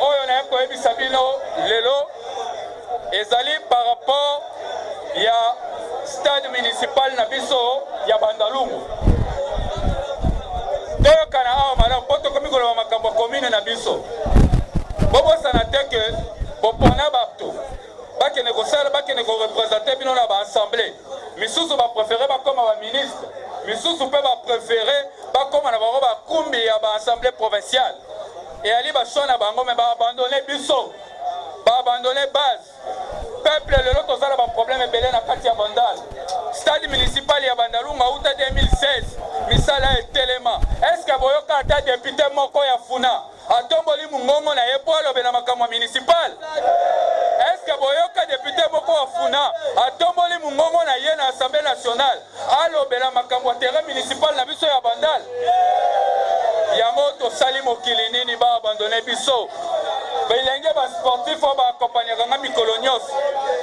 oyo naye koyebisa bino lelo ezali par rapport ya stade municipal na biso ya bandalungu toyokana awa malamu mpo tokomi koloba makambo ya komine na biso bobosana te ke bopona bato bakende kosala bakende korepresente bino na baassemble misusu baprefere bakoma baministre misusu mpe baprefere bakoma na bango bakumbi ya baassemble provinciale Eyali ba choix na bango mais ba abandonner biso. Ba abandonner base. Peuple lelo tozala ba problème ebele na kati ya Bandal. Stade municipal ya Bandalunga uta 2016 misala etelema. Est-ce que boyoka ata député moko ya Funa atomboli mungongo na ye po alobe na makambo municipal? Est-ce que boyoka député moko ya Funa atomboli mungongo na ye na Assemblée nationale alobela makambo ya terrain municipal na biso ya bandal yango tosali mokili nini ba abandone biso bilenge ba sportif oyo baakompagnaka nga mikolo nyonso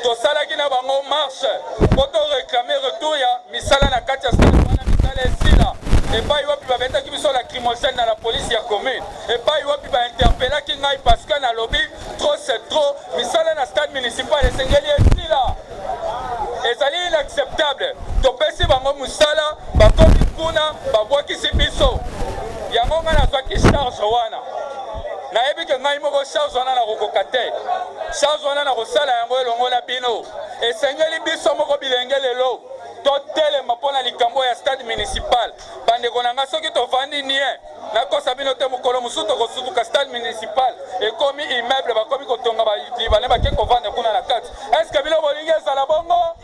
tosalaki na bango marche mpo to reklame retour ya misala na kati ya stade wana misala esila epai wapi babetaki biso lacrymogène na la polisi ya commune epai wapi bainterpelaki ngai parce que nalobi trop c'est trop misala na stade municipal esengeli esila ezali inacceptable topesi bango mosala bakomi kuna babwakisi biso yango ngai nazwaki charge wana nayebi ke ngai moko charge wana nakokoka te charge wana nakosala yango elongo na bino esengeli biso moko bilenge lelo totelema mpo na likambo ya stade municipal Bandeko na nga soki tovandi nie nakosa bino te mokolo mosusu tokosutuka stade municipal ekomi immeuble bakomi kotonga balibane bake kovanda kuna na kati eske bino bolingi ezala bongo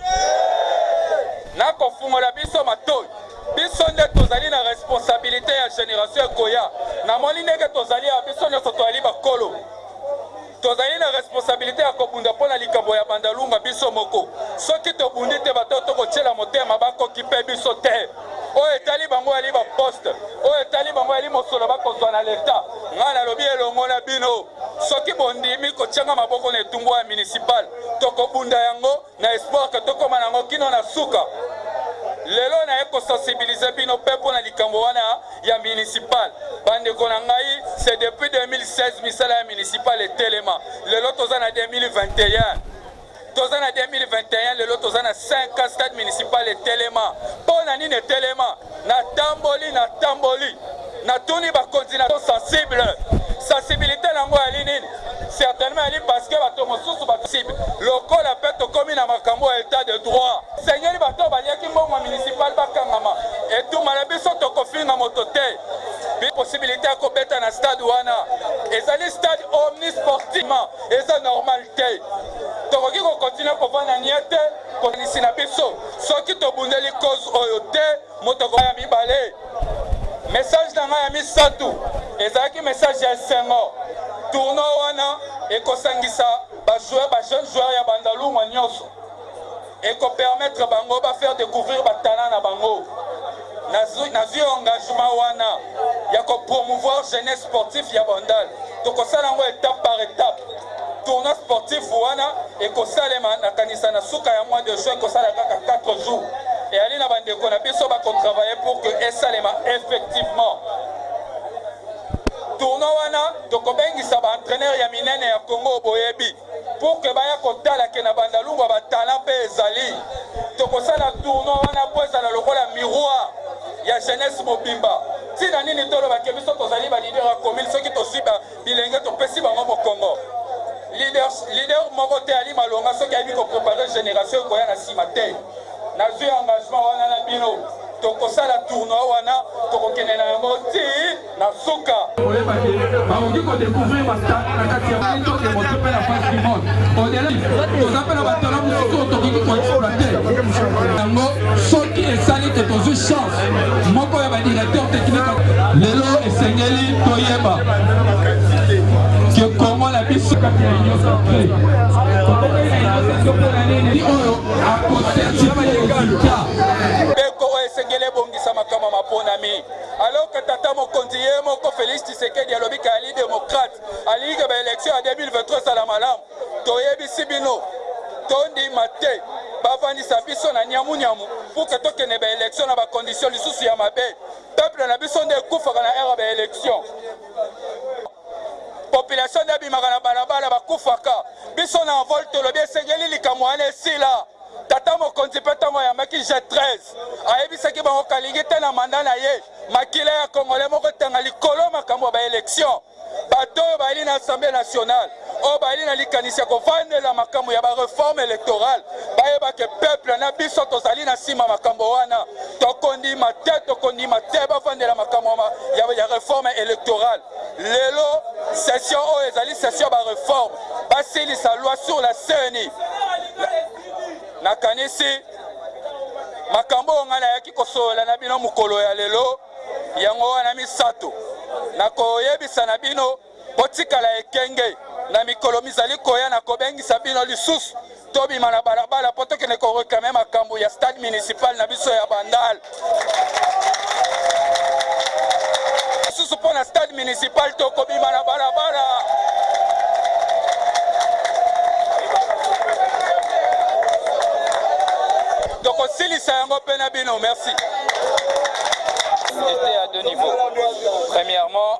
nakofungola biso matoi biso nde tozali na responsabilite ya generation ekoya namoni ndenge tozali ya biso nyonso toyali bakolo Tozali na responsabilite ya kobunda mpo na likambo ya Bandalunga biso moko. Soki tobundi te, bato oyo tokotyela motema bakokipe biso te. Oyo etali bango yali baposte, oyo etali bango yali mosolo bakozwa na Leta. Ngai nalobi elongo na bino, soki bondimi kotyanga maboko na etumbu ya municipal, tokobunda yango. na espoir que tokoma nango kino na suka lelo naye kosensibilize bino mpe mpo na likambo wana ya municipal bandeko na ngai se depuis 2016 misala ya municipal etelema lelo toza na 2021 toza na 2021 lelo toza na 5 stade municipal etelema mpo na nini etelema Natamboli, natamboli, natuni bakonzi na sensible sensibilité na yango yali nini? Certainement yali parce que bato mosusu basensible lokola mpe tokomi na makambo ya etat de droit. Sengeli bato baliaki mbongo municipal bakangama, etumba na biso tokofinga moto te. Possibilité ya kobeta na stade wana ezali stade omnisportivement, eza normal te. Tokoki kokontinue kovanda nie te. Bokanisi na biso soki tobundeli cause oyo te, moto akoya mibale. Message na ngai ya misato ezalaki message ya esengo. Tournoi wana ekosangisa ba joueurs, ba jeunes joueurs ya Bandalungwa nyonso, ekopermettre bango ba faire découvrir ba talents na bango. nazwi nazwi engagement wana ya ko promouvoir jeunesse sportif ya bandal tokosala yango étape par étape tournoi sportif wana ekosalema nakanisa na suka ya mois de juin ekosala kaka 4 jours eyali na bandeko na biso bakotravaille pour que esalema effectivement tournoi wana tokobengisa baentraîneur ya minene ya congo boyebi pour que baya kotala ke na bandalungwa ba talent mpe ezali tokosala tournoi wana mpo ezala lokola miroir ya jeunesse mobimba ntina nini toloba ke biso tozali balider ya commune soki tozwi bilenge topesi bango mokongo lider, lider moko te ali malonga soki ayebi koprepare génération ekoya na nsima te nazwi engagement wana na bino tokosala tournoi wana tokokende na yango ti Na suka. Oyeba ke bakoki ko decouvrir ba stars na kati ya Mali to ke moto pe na face du monde. Au-delà, toza pe na ba talents mosusu oyo tokoki ko exploiter. Yango soki esali ke tozwi chance moko ya ba directeurs techniques. Lelo esengeli toyeba ke Congo na biso kati ya Union Sacrée. Ni oyo akoserti pe resultat. Ndeko oyo esengeli ebongisama kama maponami. Alors que tata mokonzi ye moko Felix Tshisekedi alobi ke ali demokrate, alingi ke baelektio ya 2023 ezala malamu. Toyebisi bino, tondima te bavandisa biso na nyamunyamu pour ke tokende baelektio na bakondisio lisusu ya mabe. Peuple na biso nde ekufaka na ere ya baelektio. Population nde abimaka na balabala, bakufaka. Biso na envol tolobi esengeli likambo wana esila. Tata mokonzi mpe ntango ayambaki G13 ayebisaki bango kalingi te na manda na ye makila ya kongole moko tanga likolo makambo ya baelektio bato oyo bayali na assemblée nationale oyo bayali na likanisi ya kovandela makambo ya bareforme elektorale bayebake peuple na biso tozali na nsima makambo wana tokondima te tokondima te bavandela makambo ya reforme elektorale lelo session oyo ezali session ya bareforme basilisa loi sur la ceni nakanisi makambo oyo ngai nayaki kosolola na bino mokolo ya lelo yango wana misato nakoyebisa na bino botikala ekenge na mikolo mizali koya na kobengisa bino lisusu tobima na balabala mpo tokende koreklame makambo ya stade municipal na biso ya bandal lisusu mpo na stade municipal tokobima na balabala tokosilisa yango mpe na bino merci. C'était à deux niveaux. Premièrement,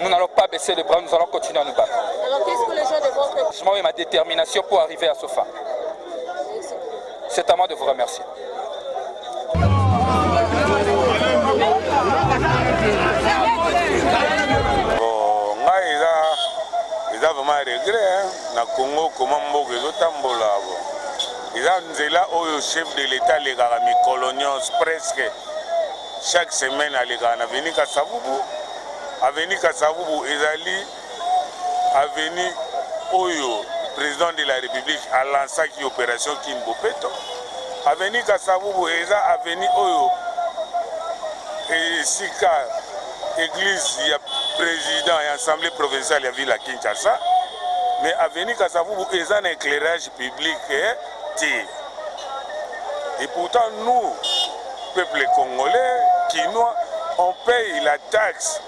Nous n'allons pas baisser les bras, nous allons continuer à nous battre. Alors qu'est-ce que les gens de votre... Je m'en vais ma détermination pour arriver à ce fin. C'est à moi de vous remercier. eza vraiment regret na congo koma mboka ezotambola bo eza nzela oyo chef de l'état alekaka mikolo nyonso presque Chaque semaine alekaka na avenue Kasavubu. Avenue Kasavubu ezali avenue oyo president de la République a lancaki operation Kin Bopeto. Avenue Kasavubu eza avenue oyo esika église ya président ya assemblée provinciale ya ville ya Kinshasa. Mais avenue Kasavubu eza na éclairage public. Eh? te et pourtant nous peuple congolais kinois on paye la taxe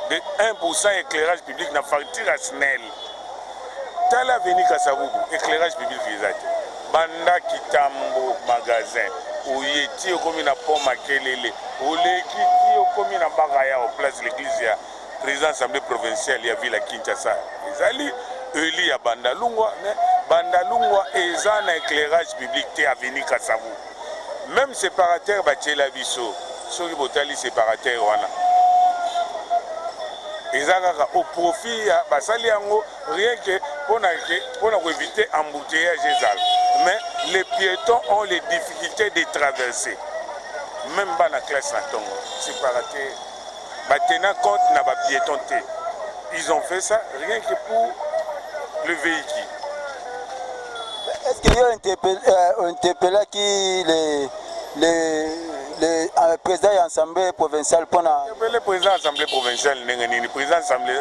de 1% éclairage public na facture ya snel tala aveni kasabubu éclairage public eza te banda kitambo magasin oye ti okomi na pont makelele oleki ti okomi na baka yao place l'église ya President ya Assemblee provinciale ya ville ya Kinshasa ezali elu ya Bandalungwa, mais Bandalungwa eza na eclairage public te, avenue Kasavu. Meme separateur batiela biso, soki botali separateur wana eza kaka au profit ya basali yango rien que pona ke pona ko éviter embouteillage ezala mais les piétons ont les difficultés de traverser même bana classe na tongo separateur ba tenant compte na ba pietons te ils ont fait ça rien que pour le véhicule est-ce que yo euh, interpellaki les les le euh, président ya assemblée provinciale mpona le président ya assemblée provinciale ndenge nini président assemblée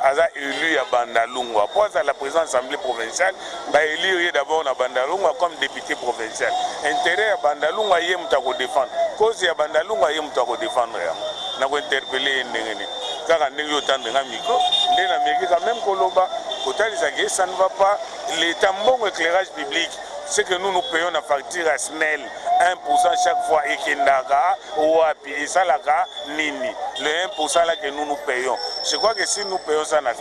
aza élu ya bandalungwa mpo azala président assemblée provinciale ba elire ye d'abord na Bandalungwa comme depute provincial. Interet ya Bandalungwa ye moto ako defendre, cause ya Bandalungwa ye moto ako defendre yango. Nako interpeller ye ndenge nini? Kaka ndenge yo otandi nga micro nde na meki quand meme ko loba ko talisa que ça ne va pas l'etat mbongo eclairage public ce que nous nous payons na facture ya SNEL 1% chaque fois ekendaka wapi esalaka nini le 1% là que nous nous payons je crois que si nous payons ça na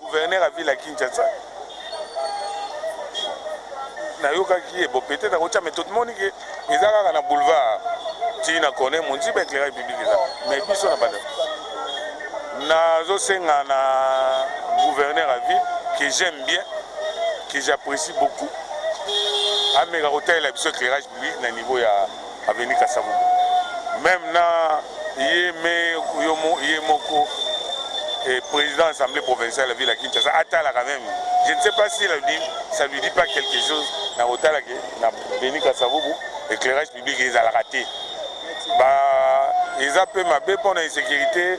Gouverneur ya ville ya Kinshasa nayokaki ye bo peut-être akotia mais tomoni ke eza kaka na boulevard tii na corner monziba éclairage public eza mais biso na banda nazosenga na gouverneur ya ville que j'aime bien que j'apprécie beaucoup ameka kotalela biso éclairage public na niveau ya Avenue Kasavubu. Meme na ye me ye moko et président assemblée provinciale ya ville ya Kinshasa atalaka même je ne sais pas si la dit ça lui dit pas quelque chose na kotala ke na Beni Kasavubu éclairage public ezalaka te ba eza mpe mabe mpo na insécurité